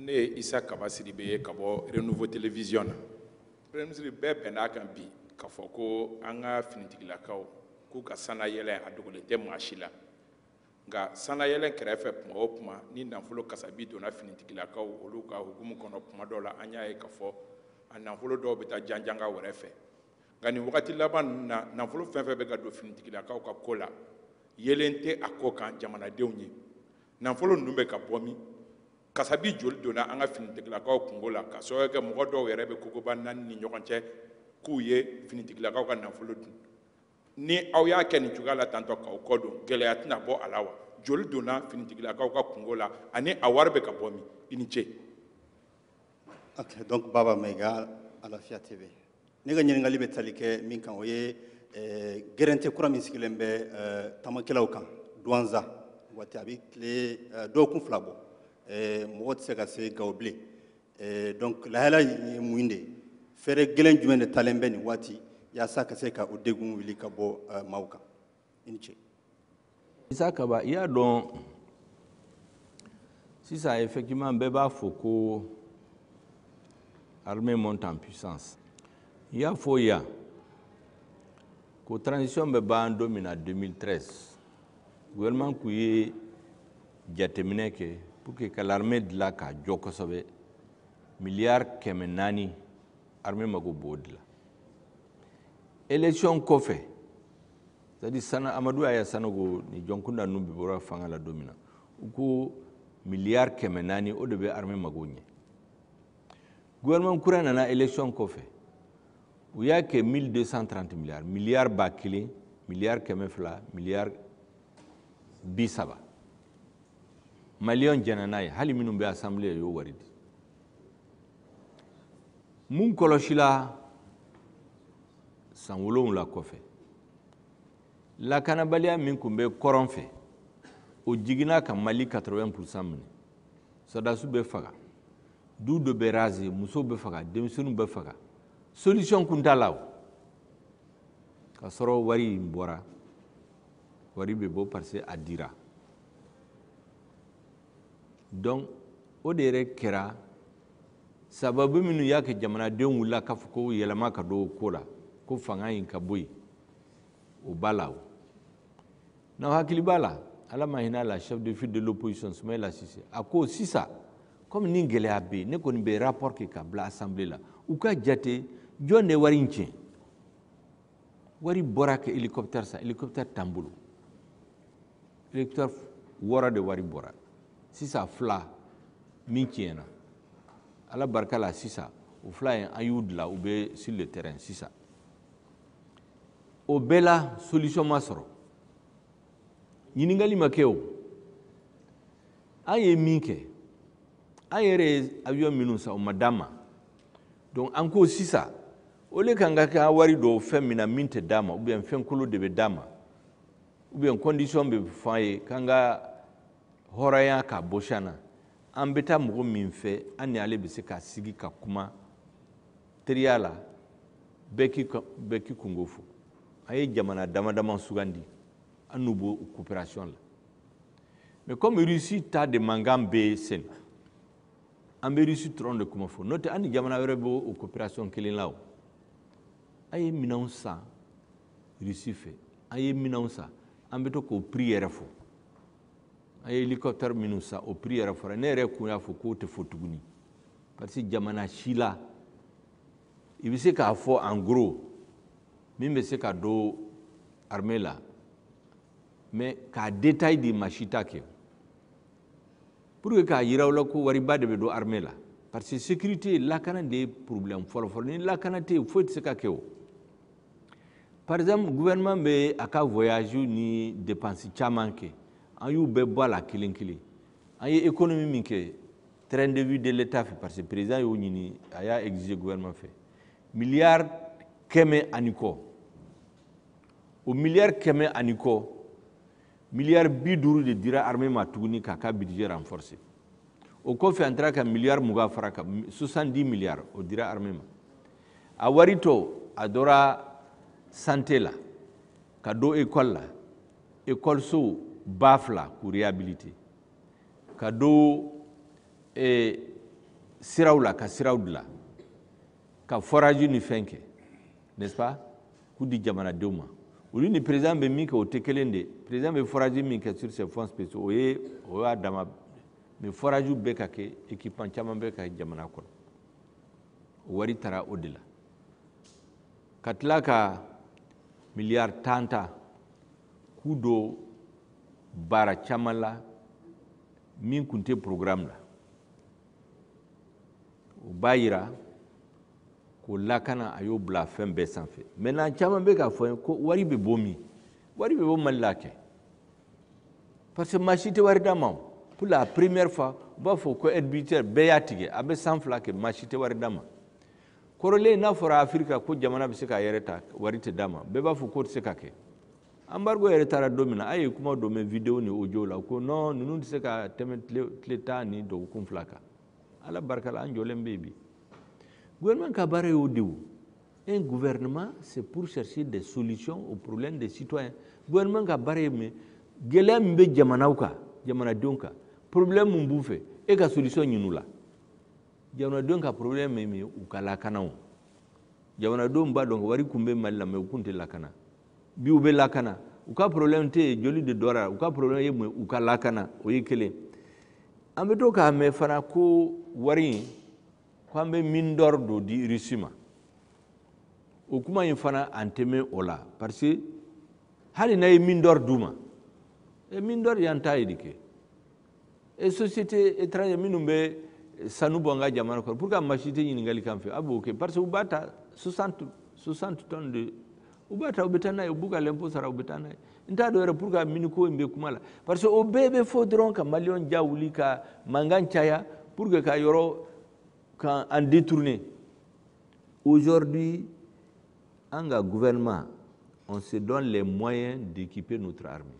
ne ye isa kaba sidibe ye ka bɔ renouveau télévision na premier ministre bɛɛ bɛn'a kan bi k'a fɔ ko an ka finitigilakaw k'u ka sannayɛlɛn a dogolen tɛ maa si la nka sannayɛlɛn kɛrɛfɛ tuma o tuma ni nafolo kasabi donna finitigilakaw olu ka hukumu kɔnɔ tuma dɔw la an y'a ye k'a fɔ a nafolo dɔw bɛ taa janjanga wɛrɛ fɛ nka nin wagati laban ninnu na nafolo fɛn fɛn bɛ ka don finitigilakaw ka ko la yeelen tɛ a ko kan jamanadenw ye Nafolo ninnu bɛ ka bɔ min? Kasabi joli donna an ka finitigilakaw kunko la ka sababuya kɛ mɔgɔ dɔw yɛrɛ bɛ kogoba naani ni ɲɔgɔn cɛ k'u ye finitigilakaw ka nafolo dun. Ni aw y'a kɛ nin cogoya la taatɔ k'aw kɔ don, gɛlɛya tɛna bɔ a la wa? Joli donna finitigilakaw ka kunko la ani a wari bɛ ka bɔ min? I ni ce. Ok, donc Baba Maiga, Alafia TV. ne ka ɲininkali bɛ tali kɛ min kan o ye eh, gɛrɛnte kura min sigilen bɛ eh, tamakɛlaw kan duwanza waati a bɛ tile eh, dɔgɔkun fila bɔ mɔgɔ tɛ se ka se gawo bilen donc lahala ye mun de ye fɛɛrɛ gɛlɛn jumɛn de talen bɛ nin waati yaasa ka se ka o degun wuli ka bɔ maaw kan i ni ce isa kaba i y'a dɔn sisan effectivement bɛɛ b'a fɔ ko armée monte en puissance n y'a fɔ yan ko transition bɛ ban don min na 2013 gouvernement kun ye jateminɛ kɛ pour que ka l'armée dilan k'a jɔ kosɛbɛ miliyari kɛmɛ naani armée mago b'o de la élection kɔfɛ c'est-à-dire amadu aya sanogo ni jɔnkunda ninnu bɛɛ bɔra fanga la don min na u ko miliyari kɛmɛ naani o de bɛ armée mago ɲɛ gouvernement kura nana élection kɔfɛ u y'a kɛ 1230 miliyari miliyari ba kelen miliyari kɛmɛ fila miliyari bi saba maliyɛnw jɛnna n'a ye hali minnu bɛ assemblée y'o wari di mun kɔlɔsila san wolonwula kɔfɛ lakanabaliya min tun bɛ kɔrɔn fɛ o jiginna ka mali 80 pourcent minɛ sɔrɔdasiw bɛ faga dugu dɔ bɛ raser musow bɛ faga denmisɛnninw bɛ faga solution kun t'a la o k'a sɔrɔ wari in bɔra wari bɛ bɔ parce que a dira donc o de yɛrɛ kɛra sababu minnu y'a kɛ jamanadenw wulila k'a fɔ ko yɛlɛma ka don o ko la ko fanga in ka bɔ yen o b'a la o n'aw hakili b'a la ala ma hin'a la chef de file de l'opposition Soumaïla Cissé a ko sisan komi ni gɛlɛya bɛ yen ne kɔni bɛ rapport kɛ k'a bila assemblée la u k'a jate jɔn de ye wari in tiɲɛ wari bɔra ka hélicoptère san hélicoptère t'an bolo hélicoptère wɔɔrɔ de wari bɔra sisan fila min tiɲɛna ala barika la sisan o fila ye an y'u dilan u bɛ sur le terrain sisan o bɛɛ la solution ma sɔrɔ ɲininkali ma kɛ o an ye min kɛ an yɛrɛ ye avion minnu san u ma d'an ma donc an ko sisan au lieu k'an ka an wari don fɛn min na min tɛ d'an ma ou bien fɛn kolon de bɛ d'an ma ou bien condition bɛ fɔ an ye k'an ka hɔrɔnya k'a bɔsi an na an bɛ taa mɔgɔ min fɛ an ni ale bɛ se ka sigi ka kuma teriya la bɛɛ k'i bɛɛ k'i kunko fɔ an ye jamana dama dama sugandi an n'u b'o coopération la mais comme Russie ta de mankan bɛ sen na an bɛ Russie dɔrɔn de kuma fɔ n'o tɛ an ni jamana wɛrɛ bɛ o coopération kelen la o an ye minɛnw san Russie fɛ an ye minɛnw san an bɛ to k'o prix yɛrɛ fɔ an ye hélicoptère minnu san o prix yɛrɛ fɔra ne yɛrɛ kun y'a fɔ k'o tɛ fɔ tuguni parce que jamana si la i bɛ se k'a fɔ en gros min bɛ se ka don armée la mais k'a détail di maa si t'a kɛ pour que k'a yira aw la ko wariba de bɛ don armée la parce que sécurité lakana de ye problème fɔlɔfɔlɔ ni lakana tɛ yen foyi tɛ se ka kɛ o par exemple gouvernement bɛ a ka voyage ni dépense caman kɛ an y'u bɛɛ bɔ a la kelen kelen an ye économie min kɛ train de vie de l'état fɛ parce que président y'o ɲini a y'a exiger gouvernement fɛ milliard kɛmɛ ani kɔ o milliard kɛmɛ ani kɔ miliyari bi duuru de dira armée ma tuguni k'a ka budget renforcer o kɔfɛ an taara ka miliyari mugan fara a kan 70 miliyari o dira armée ma a wari tɔ a donna santé la ka don école la école so ba fila k'u réhabiliter ka don eh, siraw la ka siraw dilan ka forage ni fɛn kɛ n'est-ce pas k'u di jamanadenw ma olu ni président bɛ min kɛ o tɛ kelen de président bɛ forage min kɛ sur ses fonds spéciaux o ye o y'a dama mais foragew bɛ ka kɛ équipement caman bɛ ka kɛ jamana kɔnɔ o wari taara o de la ka tila ka miliyari tan ta k'u don baara caman la min tun tɛ programme la o b'a yira ko lakana a y'o bila fɛn bɛɛ sanfɛ maintenant caman bɛ k'a fɔ ye ko wari bɛ bɔ min wari bɛ bɔ mali la kɛ parce que maa si tɛ wari d'a ma o pour la première fois u b'a fɔ ko aide budgétaire bɛɛ y'a tigɛ a bɛ san fila kɛ maa si tɛ wari d'a ma kɔrɔlen n'a fɔra afirika ko jamana bɛ se k'a yɛrɛ ta wari tɛ d'a ma bɛɛ b'a fɔ k'o tɛ se ka kɛ embargo yɛrɛ taara don min na a ye kuma dɔ mɛn videwo ni ojo la ko nɔn ninnu tɛ se ka tɛmɛ tile tan ni dɔgɔkun fila kan ala barika la an jɔlen bɛ yen bi gouvernement ka baara y'o de o un gouvernement c'est pour chercher des solutions aux problèmes des citoyens gouvernement ka baara ye mun gɛlɛya min bɛ jamanaw kan jamanadenw kan problème min b'u fɛ e ka solution ɲini u la jamanadenw ka problème ye mun ye u ka lakana o jamanadenw b'a dɔn wari kun bɛ mali la mais u kun tɛ lakana bi u bɛ lakana u ka problème tɛ yen joli de dɔra u ka problème ye mun ye u ka lakana o ye kelen an bɛ to k'a mɛn fana ko wari in ko an bɛ mine d'or dɔ di Russie ma o kuma in fana an tɛ mɛɛn o la parce que hali n'a ye mine d'or d'u ma e mine d'or y'an ta ye de kɛ e société étranger minnu bɛ sanu bɔ an ka jamana kɔnɔ pourquoi maa si tɛ ɲininkali kan fɛ a b'o kɛ parce que u b'a ta 60 60 tonnes de u b'a ta u bɛ taa n'a ye u b'u ka lɛnpo sara u bɛ taa n'a ye n t'a dɔn yɛrɛ pourquoi mine ko in bɛ kuma la parce que o bɛɛ bɛ fɔ dɔrɔn ka maliyɛnw ja wuli ka mankan caya pour que ka yɔrɔ k'an détourner aujourd'hui an ka gouvernement on se donne les moyens d'équiper notre armée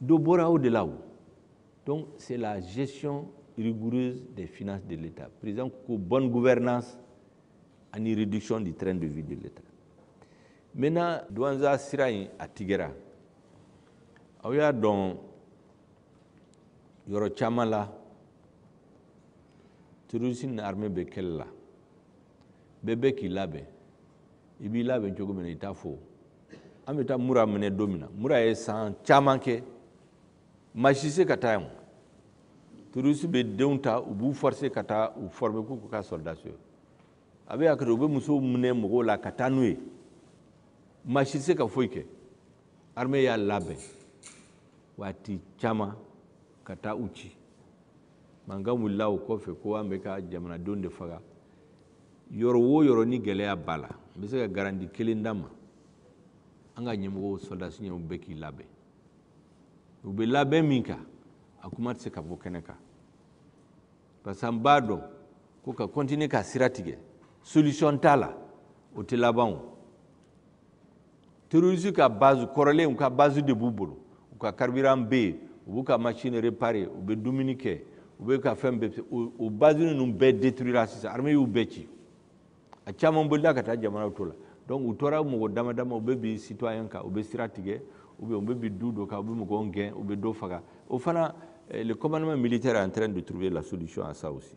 dɔ bɔra o de la o donc c'est la gestion rigoureuse des finances de l'État président ko bonne gouvernance ani réduction du train de vie de l'État maintenant Douentza sira in a tigɛra aw y'a dɔn yɔrɔ caman la terroristes ni armée bɛ kɛlɛ la bɛɛ bɛ k'i labɛn i b'i labɛn cogo min na i t'a fɔ an bɛ taa mura minɛ don min na mura ye san caman kɛ maa si se ka taa yen terroristes bɛ denw ta u b'u forse ka taa u forme k'u kɛ sɔrɔdasi ye a bɛ zakat u bɛ musow minɛ mɔgɔw la ka taa n'u ye maa si se ka foyi kɛ armée y'a labɛn waati caman ka taa u ci mankan wulila o kɔfɛ ko an bɛ ka jamanadenw de faga yɔrɔ wo yɔrɔ ni gɛlɛya b'a la n bɛ se ka garanti kelen d'aw ma an ka ɲɛmɔgɔw sɔrɔdasi ninnu bɛ k'i labɛn u bɛ labɛn min kan a kuma tɛ se ka bɔ kɛnɛ kan parce que an b'a dɔn ko ka kɔntine ka sira tigɛ solution t'a la o tɛ laban o terroriste ka base kɔrɔlen u ka base de b'u bolo u ka carburant bɛ yen u b'u ka machine réparer u bɛ dumuni kɛ u bɛ ka fɛn bɛɛ o base ninnu bɛɛ détruira sisan armée y'u bɛɛ ci a caman bolila ka taa jamana tɔw la donc u tora mɔgɔ dama dama u bɛ bin citoyen kan u bɛ sira tigɛ ou bien u bɛ bin dugu dɔ kan u bɛ mɔgɔw gɛn u bɛ dɔ faga o fana eh, le commandement militaire est en train de trouver la solution à ça aussi